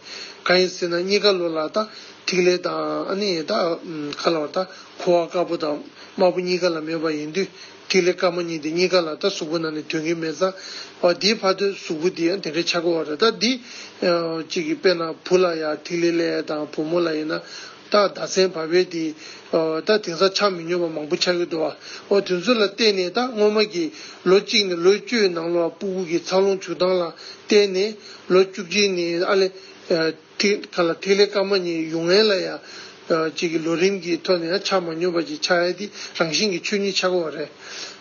གང་ཡིན་ཟེར་ན་གཉིས་ཀ་ལོ་ལ་དང་ཐིག་ལེ་དང་ཁ་ལ་བ་དང་ཁུ་བ་དཀར་པོ་དང་དམར་པོ་གཉིས་ཀ་ལ་མེད་པ་ཡིན་དུས་ཐིག་ལེ་དཀར་མོ་གཉིས་དེ་གཉིས་ཀ་ལ་དང་གཟུགས་པོ་ནང་ནས་དོན་གྱི་མེད་ཙང་བ་དེའི་ཕ་དོན་གཟུགས་པོ་དེ་དེ་འདྲའི་ཆགས་པ་རེད་ད་འདི། གཅིག་གིས་དཔེར་ན་བུ་ལ་ཡང་ཐིག་ལེ་ལས་དང་བུ་མོ་ལ་ཡིན་ན། ད་ཟླ་ཚན་བར་བས་དེ། ད་དེང་སང་ཆགས་མི་ཉོན་པ་མང་པོ་ཆགས་ཡོད་དོ། ཨོ་དེ་ཚོ་ལ་བལྟས་ནས་ད་སྔོན་མ་གི། ལོ་གཅིག་ནས་ལོ་བཅུའི་ནང་ལོ་ཨ་པུ་གུ་གི་འཚར་ལོངས་བྱུག་སྟངས་ལ་བལྟས་ནས། ལོ་བཅུ་གཅིག་ནི་ཨ་ལེ། ཐིག། ག་ལ་ཐིག་ལེ་སྐར་མ་གཉིས་ཡུག་ངན་ལ་ཡང། གཅིག་གི་ལོ་རིམ་གྱི་ཐོག་ནས་ཡང་ཆགས་མ་ཉོན་པ་གཅིག་ཆགས་ཡས་དེ་རང་བཞིན་གྱི་ཆོས་ཉིད་ཆགས་འགོ་བ་རེད།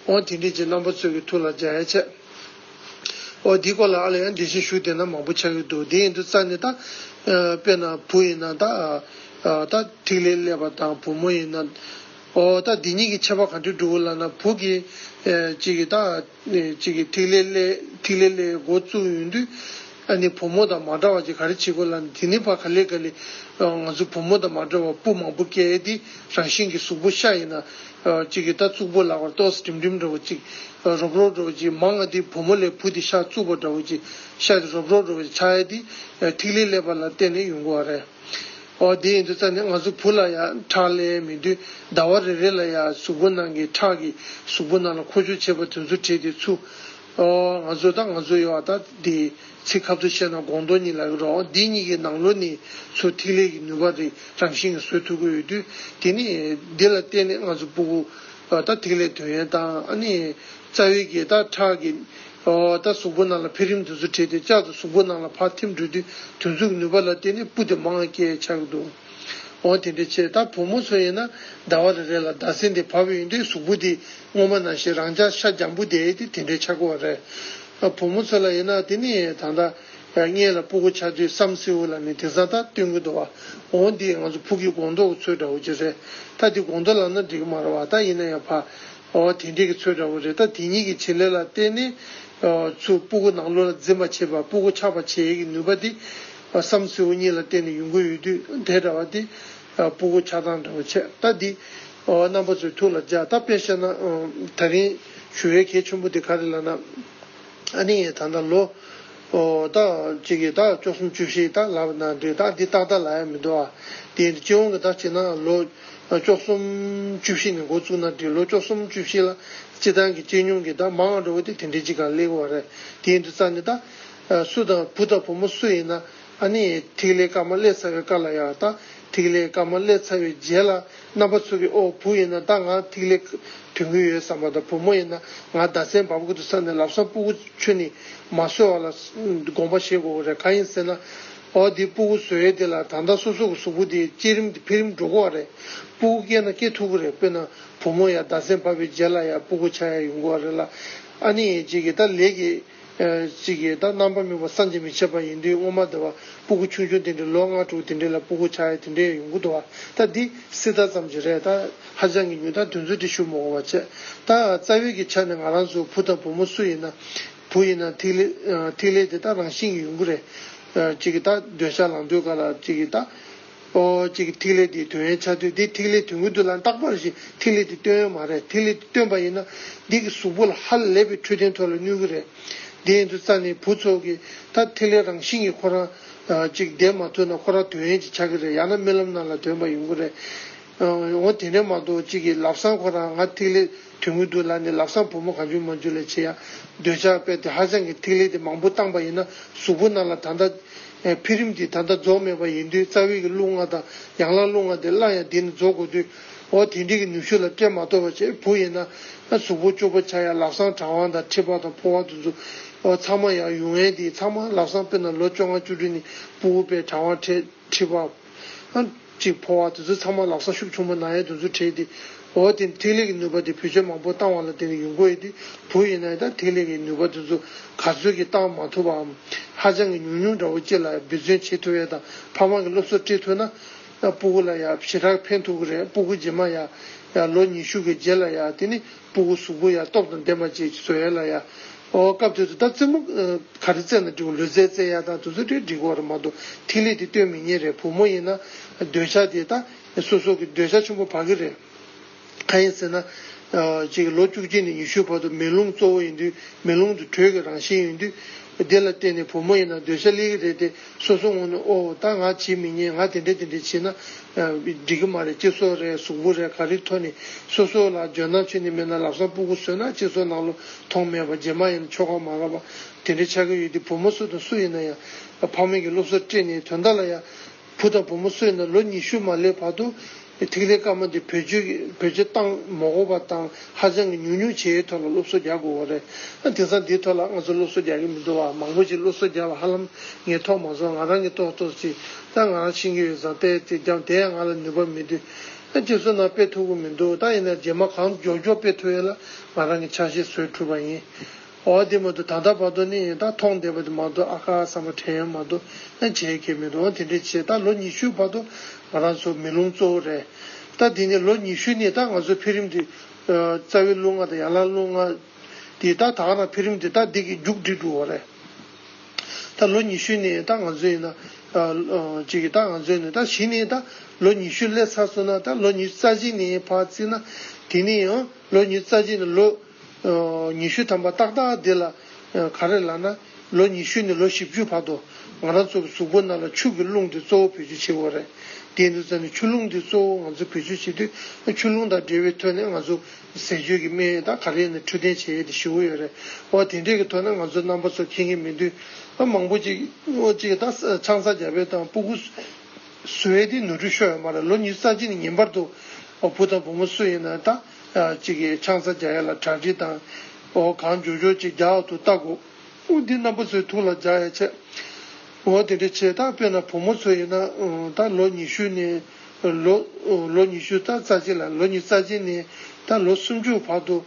ཨོ་དེ་འདྲས་ཀྱི་རྣམ་པ་ཚོད་ཀྱི་ཐུགས་ལ་འཇགས་ཡས་ཆེ། ཨོ་དེའི་སྐོར་ལ་ཨ་ལ་ཡང་འགྲེལ་བཤད་ཞུ་དེ་ན་མང་པོ་ཆགས་ཡོད་འདུག་དེ་ཡིན་དུས་རྩ་ནས་ད། དཔེར་ན་བུ་ཡིན་ན་ད། ད་ཐིག་ལེ་ཀླད་པ་དང་བུ་མོ་ཡིན་ན། ཨོ་ད་འདི་གཉིས་ཀྱི་ཁྱད་པར་གང་འདྲས་འགྲུབ་བོ་ལབ་ན་བུ་གི། གཅིག་གིས་ད། གཅིག་གིས་ཐིག་ལེ་ཀླད་ཐིག་ལེ་ཀླད་མགོ་བཙུགས་ཡོད་འདུག། ཨ་ནི་བུ་མོ་དང་མ་འདྲ་བ་ཅིག་ག་རེ་བྱེད་དགོས་ལབ་ན་དེ་ནི་བ་ག་ལེ་ག་ལེ། ང་ཚོ་བུ་མོ་དང་མ་འདྲ་བ་སྤུ་མང་པོ་སྐྱེས་ཏེ་རང་བཞིན་གྱི་གཟུགས་པོ་ཤ་ཡིན་ན། གཅིག་གིས་ད་གཙུག་པོ་ལག་པར་ཏོག་སེ་འགྲིམ་འགྲིམ་འདྲ་བོ་ཅིག། རོབ་རོབ་འདྲ་བོ་ཅིག་མ་ང་འདི་བུ་མོ་ལས་བུ་འདི་ཤ་གཙུག་པོ་འདྲ་བོ་ཅིག་ཤ་འདི་རོབ་རོབ་འདྲ་བོ་ཅིག་ཆ་ཡ་འདི། ཐིག་ལེ་ཀླད་པ་ལ་བརྟེན་ནས་ཡོང་གི་བ་རེད། འོ་དེ་ཡིན་དུས་རྩ་ནས་ང་ཚོ་བུ་ལ་ཡང་ཁྲག་ཀླད་མེད་དུས་ཟླ་བ་རེ་རེ་ལ་ཡང་གཟུགས་པོ་ནང་གི་ཁྲག་གིས་གཟུགས་པོ་ནང་ལ་འཁོར་ཆུ་བྱེད་པ་དེ་ཚོ་བྲིས་ཏེ་ཆུ། ང་ཚོ་དང་ང་ཚོ་ཡོད་བ་དག་དེ་ཚིག་ཁབ་ཏུ་བཤད་ན་དགོངས་དོན་གཉིས་ལ་ཡོད་རོགས་འདི་གཉིས་ཀྱི་ནང་ལོ་ནི་ཚུར་ཐིག་ལེ་ཀྱི་ནུས་པ་རི་རང་བཞིན་གྱི་སོས་ཐུབ་ཀྱི་ཡོད་དུས་དེ་ནི་འདི་ལ་བརྟེན་ནས་ང་ཚོ་སྤུ་གུ་དང་ཐིག་ལེ་དོན་ཡོད་དང་ནི་རྩ་བའི་རྒྱས་དང་ཁྲག་གི་དང་གཟུགས་པོ་ནང་ལ་འཕེལ་རིམ་དུ་ཚུར་འཕྲད་དེ་ལྕགས་དང་གཟུགས་པོ་ནང་ལ་ཕར་ཐིམ་འགྲོ་དུས་དུས་མཚུངས་ཀྱི་ནུས་པ་ལ་བརྟེན་ནས་སྤུ་དེ་མང་སྐྱེ་ཆགས་འདུག། འོ་དེ་འདྲའི་ཕྱིར་ད་བུ་མོ་ཚོ་ཡིན་ན་ཟླ་བ་རེ་རེ་ལ་ཟླ་ཟེར་འདི་བབས་ཡོང་དུས་གཟུགས་པོ་འདི་སྔོན་མ་ན་ཞིག་རང་ཅག་ཤ་རྒྱམ་བུ་དེ་དེ་དེ་འདྲའི་ཆགས་ཀི་བ་རེད། བུ་མོ་ཚོ་ལ་ཡིན་ན་དེ་ནི་ད་ལྟ་མངལ་ལ་སྤུ་གུ་ཆགས་དུས་བསམ་སེའུ་ལ་ནི་དེང་སང་ད་སྟོན་གི་འདུག་བ། འོ་འདི་ང་ཚོ་ཕུགས་ཀྱི་དགོང་དོག་གི་ཚོད་འདྲ་བོ་ཅིག་རེད་ད་འདི་དགོང་དོག་ལབ་ན་འགྲིག་གི་མ་རེད་བ་ད་ཡིན་ན་ཡང་བབས། འོ་དེ་འདྲའི་གི་ཚོད་འདྲ་བོ་རེད་ད་དེ་གཉིས་ཀྱི་བྱེད་ལས་ལ་བརྟེན་ནས། ཆུ་སྤུ་གུ་ནང་ལུས་ལ་འཛིན་པ་བྱེད་པ་སྤུ་གུ་ཆགས་པ་བྱེད་ཀྱི་ནུས་པ་འདི། བསམ་བསེའུ་གཉིས་ལ་བརྟེན་ནས་ཡུངས་ཀུན་ཡུལ་དུས་དེ་འདྲ་བ་དེ། སྤུ་གུ་ཆགས་སྡང་འདྲ་བོ་ཆད་ལྟ་འདི། རྣམ་པ་ཚོའི་ཐུགས་ལ་འཇགས་ད་དཔེར་བཤད་ན། ད་རིང་ཞུ་བའི་གལ་ཆེན་པོ་དེ་ག་རེ་ལ་ན། ཨ་ནི་ད་ལྟ་ལོ། ད། ཅིག་གིས་ད་བཅུ་གསུམ་བཅུ་བཞི་ད་ལབ་ན་འདོད་ད་འདི་ཏག་ཏག་ལ་ཡ་མི་འདོད་ཨ། དེ་ཡིན་དུ་སྤྱི་འོངས་ཀྱི་ད་ཅིག་ན་ལོ། བཅུ་གསུམ་བཅུ་བཞི་ནས་འགོ་བཙུགས་ན་འདི་ལོ་བཅུ་གསུམ་བཅུ་བཞི་ལ། སྤྱི་བཏང་གི་སྤྱི་སྙོམས་ཀྱི་ད་མང་འགྲོ་བ་དེ་དེ་འདྲའི་ཅིག་ག་ལེགས་བ་རེད་དེ་ཡིན་དུ་རྩ་ནི་ད། སུ་དང་བུ་དང་བུ་མོ་སུ་ཡིན་ན་ཨ་ནི་ཐིག་ལེ་དཀར་དམར་བསླད་ཚར་བའི་དཀར་ལ་ཡག་དང་ཐིག་ལེ་དཀར་དམར་བསླད་ཚར་བའི་རྗེས་ལ་རྣམ་པ་ཚུགས་ཀྱི་ཨོ་བུ་ཡིན་ན་ད་ང་ཐིག་ལེ་དུད་འགུལ་ཡོད་བསམ་པ་དང་བུ་མོ་ཡིན་ན་ང་ཟླ་མཚན་འབབ་དགོས་འདུག་བསམ་ནས་ལབ་སམ་སྤུ་གུ་ཆུ་ནི་མ་ཟོས་བ་ལ་དགོངས་པ་བཞེས་དགོས་གོ་རེད་གང་ཡིན་ཟེར་ན་ཨོ་འདི་སྤུ་གུ་ཟོས་ཡོད་དེ་ལ་ད་ལྟ་སོ་སོ་གི་གཟུགས་པོ་དེ་བསྐྱེད་རིམ་དེ་འཕེལ་རིམ་འགྲོ་གོ་བ་རེད་སྤུ་གུ་སྐྱེས་ན་སྐྱེས་ཐུབ་གི་རེད་དཔེར་ན་བུ་མོ་ཡང་ཟླ་མཚན་འབབ་པའི་རྗེས་ལ་ཡང་སྤུ་གུ་ཆགས་ཡ་ཡོང་གོ་བ་རེད་ལ་ཨ་ནི་རྗེས་ཀྱི་ད་ལས་ཀྱི། གཅིག་ཡེ་དག་རྣམ་པར་སྨིན་པ་སངས་རྒྱས་མི་ཕྱེད་པ་ཡིན་དུས་སྔོན་མ་བདེ་བ་སྤུ་གུ་ཆུང་ཆུང་དེ་འདྲས་ལོ་ལྔ་དྲུག་དེ་འདྲས་ལ་སྤུ་གུ་ཆགས་ཡས་དེ་འདྲས་ཡས་ཡོང་གི་འདུག་བ་ད་འདི་སྲི་ད་ཙམ་གྱི་རེད་ད་ཧ་ཅང་གི་ཉུང་ད་དུས་ཚོད་དེ་ཞུ་མོ་གོ་བ་བྱས་ད་རྩ་བའི་གི་ཆ་ནས་ང་རང་ཚོའི་བུ་དང་བུ་མོ་སུ་ཡིན་ན་བུ་ཡིན་ན་ཐིག་ལེ་ཐིག་ལེ་དེ་ད་རང་བཞིན་གྱི་ཡོང་གི་རེད་གཅིག་གི་ད་འདོད་ཆགས་ལངས་འདོད་ག་ལ་གཅིག་གི་ད། པོ་གཅིག་ཐིག་ལེ་དེའི་དོན་ཡན་ཆད་སྟོན་ཏེ་ཐིག་ལེ་དོན་ཀུན་ཏུ་ལ་རྟག་པར་ཞིག་ཐིག་ལེ་དེ་སྟོན་ཡོད་མ་རེད་ཐིག་ལེ་དེ་སྟོན་པ་ཡིན་ན་འདི་གི་གཟུགས་པོ་ལ་ཧ་ལས་པའི་འཕྲོད་བསྟེན་ཐོག་ལ་གནོད་གི་རེད་དེ་ཡིན་དུ་རྩ་ནས་བུ་ཚོགས་ཀྱི་ད་ཐིག་ལེ་རང་བཞིན་གྱི་ཁོ་རང་གཅིག་བདེན་མ་ཐུབ་ན་ཁོ་རང་དོན་ཡན་ཅིག་ཆགས་གི་རེད་ཡང་ན་རྨི་ལམ་རྣམས་ལ་དོན་པ་ཡོང་གི་རེད་འོ་དེ་འདྲས་མ་གཏོགས་གཅིག་གི་ལབ་སང་ཁོ་རང་ང་ཐིག་ལེ། དུས་དངུལ་བསྡུ་ལ་ནི་ལག་བཟང་བུ་མོ་གང་བཅུ་མ་འཇུ་ལས་ཆེ་ཡང་འདོད་ཆགས་དཔལ་དེ་ཧ་སང་གི་ཐིག་ལེ་དེ་མང་པོ་བཏང་པ་ཡིན་ན་གཟུགས་པོ་རྣམས་ལ་ད་ལྟ། འཕེལ་རིམ་གྱིས་ད་ལྟ་རྫོགས་མེད་པ་ཡིན་དུས་རྩ་བའི་གི་རླུང་ལྔ་དང་ཡང་ལ་རླུང་ལྔ་དེ་སླར་ཡང་དེ་ནི་རྫོགས་དགོས་དུས། འོ་དེ་འདྲའི་གི་ནུས་ཤུགས་ལ་སྤྲད་མ་ཐོབ་པ་ཆེ་བུ་ཡིན་ན། གཟུགས་པོ་བཅུ་པོ་ཆགས་ཡང་ལག་བཟང་གྲང་བ་དང་མཁྲིས་པ་དང་ཕོ་བ་དུ་འཛུགས། འོ་ཚང་མ་ཡང་ཡུལ་ངན་དེའི་ཚང་མ་ལག་བཟང་དཔེར་ན་ལོ་བཅོ་ལྔ་བཅུ་དྲུག་ནི་སྤུ་བོ་པའི་གྲང་བ་མཁྲིས་པ། ཅིག་འཕོ་བ་དེ་ཚོ་ཚང་མ་ལག་ས་ཤུབས་ཆུང་མ་ནག་ཡའི་འདུ་འཛོ་ཁྲེལ་ཏེ། འོ་དེམ་ཐིག་ལེ་གི་ནུས་པ་དེ་བུ་ཆོས་མང་པོ་བཏང་བ་ལ་དེ་ནི་ཡུན་འགོ་ཡི་དུས་བུ་ཡིན་ན་ཡང་ད་ཐིག་ལེ་གི་ནུས་པ་དེ་ཚོ་ག་ཚོད་ཀྱིས་བཏང་མ་ཐུབ་པའམ། ཧ་ཅང་གི་ཉུང་ཉུང་འདྲ་བོ་ཅིག་ལ་ཡང་འབད་བརྩོན་བྱེད་ཐུབ་ཡས་དང་ཕ་མ་གི་སློབ་གསོ་སྤྲད་ཐུབ་ན། སྤུ་གུ་ལ་ཡང་ཞེ་དྲག་ཕན་ཐུག་གི་རེད་སྤུ་གུ་རྗེས་མ་ཡ། ལོ་ཉི་ཤུ་གི་རྗེས་ལ་ཡ་དེ་ནི། སྤུ་གུ་གཟུགས་པོ་ཡང་སྟོབས་དང་ལྡན་པ་བཅས་ཀྱིས་བཟོ་ཡ་ལ་ཡ། ཨོ། སྐབས་དེ་དུ་ད་རྩེ་མོ། ག་རེ་རྩེ་ན་འགྲིག་བ་ལུས་རྩེ་རྩེ་ཡ་དང་དུ་ཚོད་དྲེག་འགྲིག་བ་རུ་མ་གཏོགས་ཐིག་ལེ་དེ་སྟོན་མི་ཉན་རེད་བུ་མོ་ཡིན་ན། འདོད་ཆགས་དེ་ད། སོ་སོ་གི་འདོད་ཆགས་ཆུང་པོ་བག་གི་རེད། གང་ཡིན་ཟེར་ན། ཅིག་ལོ་བཅུ་གཅིག་ནས་ཉི་ཤུའི་བར་དུ་མེ་རླུང་གཙོ་བོ་ཡིན་དུས་མེ་རླུང་དུ་དྲོད་ཀྱི་རང་བཞིན་ཡིན་དུས། དེ་ལ་བརྟེན་ནས་བུ་མོ་ཡིན་ན་འདོད་ཆགས་སླེ་གི་རེད་དེ། སོ་སོ་ངོ་ནས་ཨོ་ད་ང་བྱེད་མི་ཉན་ང་དེ་འདྲས་དེ་འདྲས་བྱེད་ན་འགྲིག་གི་མ་རེད་སྤྱི་ཚོགས་རེད་གཟུགས་པོ་རེད་ག་རེ་ཐོ་ནི་སོ་སོ་ལ་ཇོ་ནང་ཆོས་ནི་མེད་ན་ལབ་སང་སྤུ་གུ་ཟོས་ན་སྤྱི་ཚོགས་ནང་ལོ་ཐོང་མེད་པ་རྗེས་མ་ཡིན་ན་ཆོ་ག་མ་རག་པ་དེ་འདྲས་ཆགས་ཀྱི་ཡོད་དེ་བུ་མོ་སུ་དང་སུ་ཡིན་ན་ཡང་ཕ་མེས་ཀྱི་སློབ་གསོ་སྤྲད་ནས་དོན་དག་ལ་ཡ་བུ་དང་བུ་མོ་སུ་ཡིན་ན་ལོ་ཉི་ཤུ་མ་སླེབས་བར་དུ་ཐིག་ལེ་དཀར་མོ་འདི་བོད་སྤྱིར་བཏང་མོ་གོ་བ་དང་ཧ་ཅང་གི་ཉུང་ཉུང་བྱས་ཡོད་ཐོག་ལ་སློབ་གསོ་རྒྱག་དགོས་བ་རེད། དེང་སང་འདིའི་ཐོག་ལ་ང་ཚོ་སློབ་གསོ་རྒྱག་གི་མི་འདུག་བ་མང་པོ་ཅིག་སློབ་གསོ་རྒྱག་པ་ཧ་ལམ་ངས་ཐོག་མ་སོང་ང་རང་གིས་ཏོག་ཏོག་ཅིག་ད་ང་རང་ཕྱིན་གི་ཡོད་བཟང་དཔེ་དེ་རྒྱབ་དེ་ཡང་ང་ལ་ནུས་པ་མི་འདུག་ཁྱེད་ཚོ་ནང་དཔེ་ཐུབ་གི་མི་འདུག་ད་ཡིན་ན་རྗེས་མ་གང་མགྱོགས་མགྱོགས་དཔེ་ཐུབ་ཡོད་ལ་ང་རང་གི་ཆ་ཤས་བཟོས་འཁྲུལ་པ་ཡིན། འོ་དེ་མ་གཏོགས་ད་ལྟ་བར་དུ་ནི་ད་མཐོང་བསྡད་པ་དེ་མ་གཏོགས་ཨ་ཁ་བསམ་པ་དྲན་ཡོད་མ་གཏོགས་ཨེ་བྱས་ཁས་མི་འདུག་འོ་དེ་འདྲས་བྱས་ད་ལོ་ཉི་ཤུའི་བར་དུ་ང་རང་ཚོ་མི་ལུང་གཙོ་བོ་རེད། ད་དེ་ནས་ལོ་ཉི་ཤུ་ནི་ད་ང་ཚོ་འཕེལ་རིམ་དེ། རྩ་བའི་ལུགས་ལྔ་དང་ཡང་ལ་ལུགས་ལྔ། དེ་ད་དག་ན་འཕེལ་རིམ་དེ་ད་འདི་གི་རྒྱུགས་འགྲིལ་འགྲོ་བ་རེད། ད་ལོ་ཉི་ཤུ་ནི་ད་ང་ཚོ་ཡིན་ན། ཅིག་ད་ང་ཚོ་ནི་ད་བཞི་ནི་ད་ལོ་ཉི་ཤུ་སླེབས་ཚར་སོང་ན་ད་ལོ་ཉི་རྩ་གཅིག་ནི་བར་བརྩིས་ན་དེ་ནི་ལོ་ཉི་རྩ་གཅིག་ནི་ལོ། ཉི་ཤུ་ཐམ་པ་ཏག་ཏག་འདི་ལ་ག་རེ་ལ་ན་ལོ་ཉི་ཤུ་ནས་ལོ་བཞི་བཅུའི་བར་དུ་ང་རང་ཚོ་གི་གཟུགས་པོ་རྣམས་ལ་ཆུ་གི་རླུང་དེ་གཙོ་བོ་བེད་སྤྱོད་བྱེད་དགོས་རེད་དེའི་དུས་ཙམ་ནས་ཆུ་རླུང་དེ་གཙོ་བོ་ང་ཚོས་བེད་སྤྱོད་བྱེད་དུས་ཆུ་རླུང་དང་འབྲེལ་བའི་ཐོད་ནས་ང་ཚོ་ཟས་སྤྱོད་ཀྱི་སྨན་ཡོད་དག་ག་རེ་ནས་འཕྲོད་བསྟེན་བྱེད་ཡས་དེ་ཞི་བོ་ཡོད་རེད་འོ་དེ་འདྲས་ཀྱི་ཐོད་ན་ང་ཚོ་རྣམ་པ་ཚོ་ཁེངས་ཀྱི་མི་འདུག་མང་པོ་ཅིག་ཨོ་ཅིག་ད་ཆང་ས་རྒྱ་བལ་དང་སྤུ་གུ་སུ་ཨེ་དེ་ནོར་འཁྲུལ་ཤོར་ཡོད་མ་རེད་ལོ་ཉི་ཤུ་རྩ་གཅིག་ནས་ཉིན་པར་དུ་བུ་དང་བུ་མོ་སུ་ཡིན་ན་ད། ཅིག་གིས་ཆང་ས་རྒྱ་ཡས་ལ་བྲག་དྲི་དང། འོ་གང་འཇོ་འཇོ་ཅིག་རྒྱག་ཏུ་བཏག་གོ། དབུགས་འདི་རྣམ་པ་ཚོའི་ཐུགས་ལ་འཇགས་ཡ་ཆེ། འོ་དེ་འདྲ་བྱེད་ད་དཔེར་ན་བུ་མོ་ཚོ་ཡིན་ན་ད་ལོ་ཉི་ཤུ་ནས། ལོ་ཉི་ཤུ་རྩ་རྩ་གཅིག་ལ་ལོ་ཉི་རྩ་གཅིག་ནས་ད་ལོ་སུམ་ཅུ་བར་དུ།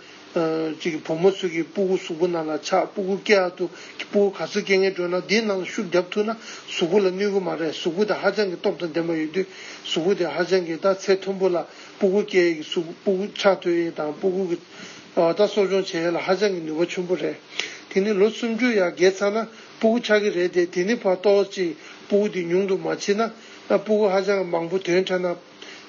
ཅིག་བུ་མོ་ཚོས་གི་སྤུ་གུ་གཟུགས་པོ་ནང་ལ་ཆགས་སྤུ་གུ་སྐྱེ་ཨ་ཏུ་གི་སྤུ་གུ་ག་ཚོད་སྐྱེ་ངེས་སྤྲོ་ན་དེའི་ནང་ལ་ཤུགས་བརྒྱབ་ཐུག་ན་གཟུགས་པོ་ལ་གནོད་གི་མ་རེད་གཟུགས་པོ་དེ་ཧ་ཅང་གི་སྟོབས་དང་ལྡན་པ་ཡོད་དུས་གཟུགས་པོ་དེ་ཧ་ཅང་གི་ད་ཚད་མཐོན་པོ་ལ། སྤུ་གུ་སྐྱེ་ཡས་ཀྱི་སུག་སྤུ་གུ་ཆགས་ཐོན་ཡས་དང་སྤུ་གུ་གི་བ་ད་གསོ་སྦྱོང་བྱེད་ཡས་ལ་ཧ་ཅང་གི་ནུས་པ་ཆུན་པོ་རེད། དེ་ནི་ལོ་སུམ་ཅུ་ཡ་བརྒལ་ཚར་ན་སྤུ་གུ་ཆགས་ཀྱི་རེད་དེ་དེ་ནི་བ་ལྟོ་བ་གཅིག་སྤུ་གུ་དེ་ཉུང་དུ་མ་ཕྱིན་ན་སྤུ་གུ་ཧ་ཅང་གི་མང་པོ་དོན་འཕྲད་ན།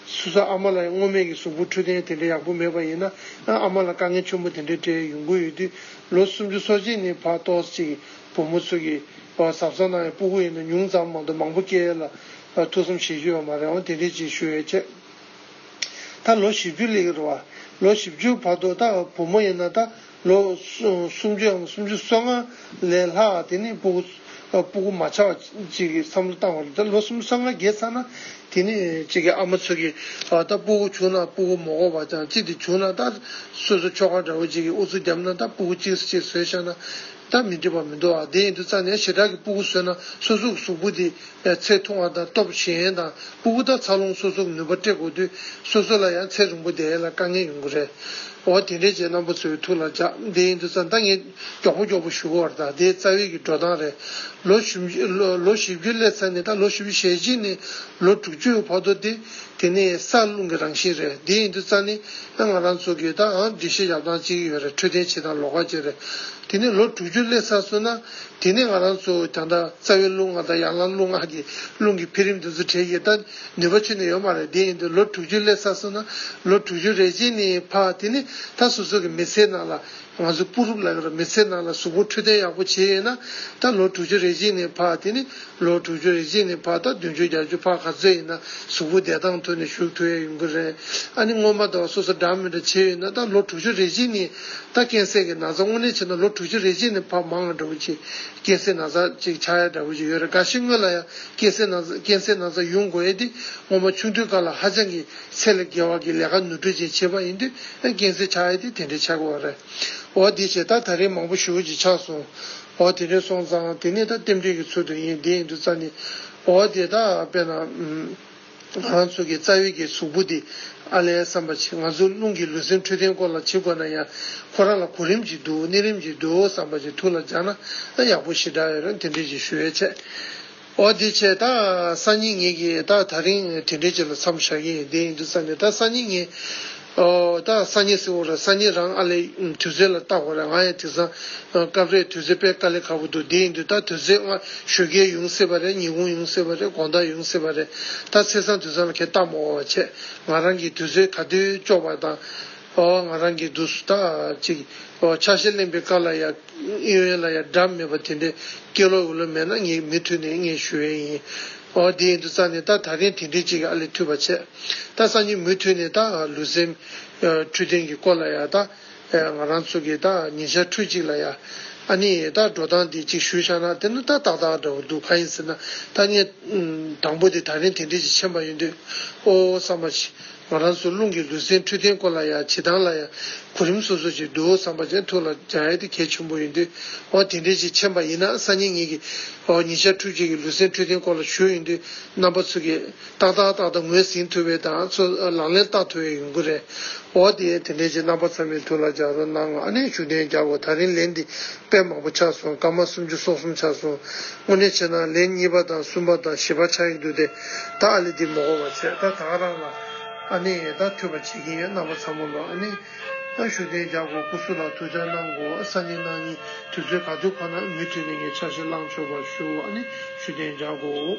སུ་ས་ཨ་མ་ལ་ཡང་སྔོ་སྨན་གྱི་སུག་སྤུ་འཁྲུ་ཐན་དེ་འདྲ་ཡག་པོ་མེད་པ་ཡིན་ན་ཨ་མ་ལ་དཀའ་ངལ་ཆུན་པོ་དེ་འདྲ་འཕྲད་ཡས་ཡོང་གི་ཡོད་དུས་ལོ་སུམ་ཅུ་སོ་གཅིག་ནི་བ་ལྟོ་བ་གཅིག་གི་བུ་མོ་ཚོས་ཀྱི་བ་ཟབ་ས་ན་ཡང་སྤུ་གུ་ཡིན་ན་ཉུང་ཙམ་མང་དུ་མང་པོ་སྐྱེ་ཡས་ལ་ཐུགས་བསམ་བཞེས་ཞུ་ཡས་མ་རེད་འོང་དེ་འདྲས་ཅིག་ཞུ་ཡས་ཆེ། ད་ལོ་བཞི་བཅུ་ལེགས་རེད་བ། ལོ་བཞི་བཅུའི་བར་དུ་ད་བུ་མོ་ཡིན་ན་ད་ལོ་སུམ་ཅུའམ་སུམ་ཅུ་སོ་ལྔ་ལས་ལྷག་དེ་ནི་སྤུ་གུ་མ་ཆགས་བ་ཅིག་གི་བསམ་བློ་བཏང་བ་རེད་ད་ལོ་སུམ་ཅུ་སོ་ལྔ་བརྒལ་ཚར་ན་དེ་ནི་ཅིག་གི་ཨ་མ་ཚོད་ཀྱི་བ་ད་སྤུ་གུ་བྱུང་ན་སྤུ་གུ་མོ་གོ་བ་ཅང་ཅིག་དེ་བྱུང་ན་ད་སོ་སོ་ཁྱོ་ག་འདྲ་བོ་ཅིག་གི་ཨུ་ཚུགས་རྒྱབ་ན་ད་སྤུ་གུ་གཅིག་གཅིག་ཟོས་ཤག་ན་ད་མི་འགྲིག་པ་མི་འདུག་ཨ་དེ་ཡིན་དུས་རྩ་ནས་ཞེ་དྲག་གི་སྤུ་གུ་ཟོས་ན་སོ་སོ་གི་གཟུགས་པོ་དེ། ཚད་མཐོ་བ་དང་སྟོབས་ཞན་དང་སྤུ་བོ་དང་འཚར་ལོངས་སོ་སོར་ནུས་པ་སྤྲད་དགོས་དུས་སོ་སོ་ལ་ཡང་ཚད་རིང་པོ་བསྡད་ཡས་ལ་དཀའ་ངལ་ཡོང་གི་རེད། འོ་དེ་འདྲའི་རྗེས་གནང་པོ་ཚོའི་ཐུགས་ལ་འཇགས་བདེ་ཡིན་དུས་རྩ་མདའ་ངས་མགྱོགས་པོ་མགྱོགས་པོ་གཞུག་བར་ད་དེ་རྩ་བའི་གི་འགྲོ་སྟངས་རེད། ལོ་བཞི་བཅུ་སླེབས་ཚར་ནས་ད་ལོ་བཞི་བཅུ་ཞེ་གཅིག་ནས་ལོ་དྲུག་ཅུའི་བར་དོ་དེ་དེ་ནས་ས་རླུང་གི་རང་བཞིན་རེད་བདེ་ཡིན་དུས་རྩ་ནི་ཨ་ང་རང་ཚོ་གི་ད་ཨང་འགྲིག་ཤེས་བཞག་སྟངས་གཅིག་ཡོད་རེད་འཕྲོད་བསྟེན་བྱེད་སྟངས་ལོགས་ཀ་བྱེད་རེད་དེ་ནས་ལོ་དྲུག་ཅུ་སླེབས་ཚར་སོང་ན། དེ་ནས་ང་རང་ཚོ་རྒྱང་ཐག་རྩ་བའི་རླུང་ངག་དང་ཡར་ལངས་རླུང་ངག་གི་རླུང་གི་འཕེལ་རིམ་དེ་ཚོ་གྲས་ཡོད་ད་ནུས་པ་ཆུད་ནས་ཡོད་མ་རེད་དེ་ཡིན་དུས་ལོ་དྲུག་ཅུ་སླེབས་ས་སོང་ན་ལོ་དྲུག་ཅུ་རེ་ཅན་ནི་ཕ་དེ་ནི་ད་སོ་སོ་གི་མི་ཚེའི་ནང་ལ་ང་ཚོ་སྤུ་རུབ་ལ་ཡོད་ར་མི་ཚེའི་ནང་ལ་གཟུགས་པོ་འཕྲོད་བསྟེན་ཡག་པོ་བྱས་ཡོད་ན་ད་ལོ་དྲུག་ཅུ་རེ་ཅན་ནི་ཕ་དེ་ནི། ལོ་དྲུག་ཅུ་རེ་གཅིག་ནས་བར་ཐག་བདུན་ཅུ་བརྒྱ་ཅུ་ཕར་ག་ཚོད་ཡིན་ན་གཟུགས་པོ་བདེ་ཐང་ཐོན་ནས་བཞུགས་ཐུབ་ཡས་ཡོང་གི་རེད་ཨ་ནི་སྔོན་མ་ད་བར་སོ་སོ་འདྲ་མི་འདྲ་བྱས་ཡོད་ན་ད་ལོ་དྲུག་ཅུ་རེ་གཅིག་ནས་ད་ཀན་སེ་གི་ན་ཚ་དངོས་གནས་བྱས་ན་ལོ་དྲུག་ཅུ་རེ་གཅིག་ནས་ཕ་མ་ང་འདྲ་བོ་ཅིག་ཀན་སེ་ན་ཚ་ཅིག་ཆགས་ཡས་འདྲ་བོ་ཅིག་ཡོད་རེད་འགའ་ཞིག་སྔོན་ལ་ཡང་ཀན་སེ་ན་ཀན་སེ་ན་ཚ་ཡོང་དགོས་ཡས་དེ་སྔོན་མ་ཆུང་དུས་སྐར་ལ་ཧ་ཅང་གི་ཚད་ལས་བརྒལ་བ་གི་ལས་ཀ་ནུ་དྲོད་ཅན་བྱས་པ་ཡིན་དུས་ཀན་སེ་ཆགས་ཡས་དེ་དེ་འདྲའི་ཆགས་གི་བ་རེད་འོ་དེ་བྱས་ད་ད་རེས་མང་པོ་ཞུ་བོ་ཅིག་ཆགས་སོང། འོ་དེ་འདྲས་སོང་ཙང་དེ་ནས་ད་རྟེན་འབྲེལ་གྱི་ཚུལ་དུ་ཡིན་དེ་ཡིན་དུ་རྩ་ནི། འོ་དེ་དག་དཔེར་ན། ང་རང་ཚོ་གི་རྩ་བའི་གི་གཟུགས་པོ་དེ། ཨ་ལས་བསམ་པ་བྱེད་ང་ཚོ་རླུང་གི་ལུས་སེམས་འཕྲོད་བསྟེན་སྐོར་ལ་བྱེད་དགོས་ན་ཡང། ཁོ་རང་ལ་གོ་རིམ་གྱིས་འདུག་གནས་རིམ་གྱིས་འདུག་བསམ་པ་བྱེད་ཐུགས་ལ་འཇགས་ན་ཡག་པོ་ཞེ་དྲག་ཡོད་རུང་དེ་འདྲས་ཀྱི་ཞུ་བའི་ཆེད། འོ་དེ་ཆད་ད་སང་ཉིན་ངེད་ཀྱིས་ད་ད་རིང་དེ་འདྲའི་ཆེད་ལ་འཚམས་བཞག་གི་ཡིན་བསྡད་ཡིན་འདུག་ས་ནས་ད་སང་ཉིན་ངེད། ཨོ་ད་སང་ཉིན་སིང་བོ་ར་སང་ཉིན་རང་ཨ་ལས་དུས་ཚོད་ལ་བརྟག་བ་རེད་ང་ཡང་དེ་སང་སྐབས་རེ་དུས་ཚོད་པད་དཀར་ལས་ཁ་པོ་འདུག་བསྡད་ཡིན་འདུག་ད་དུས་ཚོད་སྔ་ཞོལ་གའི་ཡུང་སེ་བ་རེད་ཉི་གུང་ཡུང་སེ་བ་རེད་དགོང་དག་ཡུང་སེ་བ་རེད་ད་ཚེས་སང་དུས་སང་ལ་ཁས་བཏགས་མ་འོང་བ་ཆད་ང་རང་གིས་དུས་ཚོད་ག་དུས་གཅོག་པ་དང། ཨོ་ང་རང་གིས་བསྡུས་སུ་དག་ཅིག། ཨོ་ཕྱག་བཞེས་གླེང་པའི་སྐབས་ལ་ཡང་ཨི་ཝན་ལ་ཡང་སྒྲ་མེད་པ་དེ་འདྲའི་སྐད་ལོག་འུ་ལོ་མེད་ན་ངས་མི་མཐུད་ནས་ངས་ཞུ་བས་ཡིན། ཨོ་དེ་ཡིན་དུ་རྩ་ནས་ད་ད་རིང་དེ་འདྲའི་ཅིག་ཨ་ལས་མཐུད་པ་ཆད། ད་སང་ཉིན་མུས་མཐུད་ནས་ད་ལུས་སེམས། འཕྲུལ་ཐེངས་ཀྱི་སྐོར་ལ་ཡང་ད། ང་རང་ཚོ་གིས་ད་ཉིན་ཤར་འཕྲུལ་ཅིག་ལ་ཡང། ཨ་ནི་ད་འགྲོ་སྟངས་དེ་ཅིག་ཞུ་ཤག་ན་དེ་ནི་ད་ཏག་ཏག་འདྲ་བོ་འདུག་གང་ཡིན་ཟེར་ན་ད་ངས། དང་པོ་དེ་ད་རིང་དེ་འདྲའི་ཅིག་མཆན་པ་ཡོད་འདུག་ཨོ་ཨོ་བསམ་པ། ང་རང་ཚོའི་རླུང་གི་ལུས་སེམས་འཕྲོད་བསྟེན་སྐོར་ལ་ཡང་བྱེད་སྟངས་ལ་ཡང་གོ་རིམ་སོ་སོ་ཅིག་འདུག་བསམ་པ་ཅན་ཐུགས་ལ་འཇགས་ཡས་དེ་གལ་ཆེན་པོ་ཡིན་དུས། འོ་དེ་འདྲའི་ཅིག་མཁྱེན་པ་ཡིན་ན་སང་ཉིན་ངེད་ཀྱིས། འོ་ཉིན་ཞག་ཕྲུག་གཅིག་གི་ལུས་སེམས་འཕྲོད་བསྟེན་སྐོར་ལ་ཞུ་ཡོང་དུས་རྣམ་པ་ཚུགས་གི། ཏག་ཏག་ཏག་ཏག་ངོས་ཟིན་ཐུབ་པའི་དང་ཚུར་ལག་ལེན་བསྟར་ཐུབ་པའི་ཡོང་གི་རེད། འོ་དེ་དེ་འདྲའི་ཅིག་རྣམ་པ་ཚང་མས་ཐུགས་ལ་འཇགས་རོགས་གནང་ཨ་ནས་ཞུ་གཏན་རྒྱག་གོ་ད་རིང་ལན་འདི་དཔེ་མང་པོ་ཆགས་སོང་སྐར་མ་སུམ་ཅུ་སོ་གསུམ་ཆགས་སོང། དངོས་གནས་བྱས་ན་ལན་གཉིས་པ་དང་གསུམ་པ་དང་བཞི་པ་ཆགས་ཡི་འདུག་སྟེ། ད་ཨ་ལི་འདི་མོ་གོ་བ་ཚོས་ད་ཐག་རང་ལ་ཨ་ནེ་ཡེ་ད་ཐུས་པ་བྱེད་ཀྱིན་ཡོད་རྣམ་པ་ཚང་མོ་ལོ་ཨ་ནེ་ཨ་ཞུ་གཏན་རྒྱག་གོ་སྐུ་སུ་ལ་ཐུག་ཆ་གནང་གོ་ས་ནི་གནང་ཉིན་དུས་ཚོད་ག་དུས་ཁོ་ན་མུ་མཐུད་ནས་ངས་འཆར་གཞི་བླངས་ཆོག་པར་ཞུ་ཨ་ནེ་ཞུ་གཏན་རྒྱག་གོ།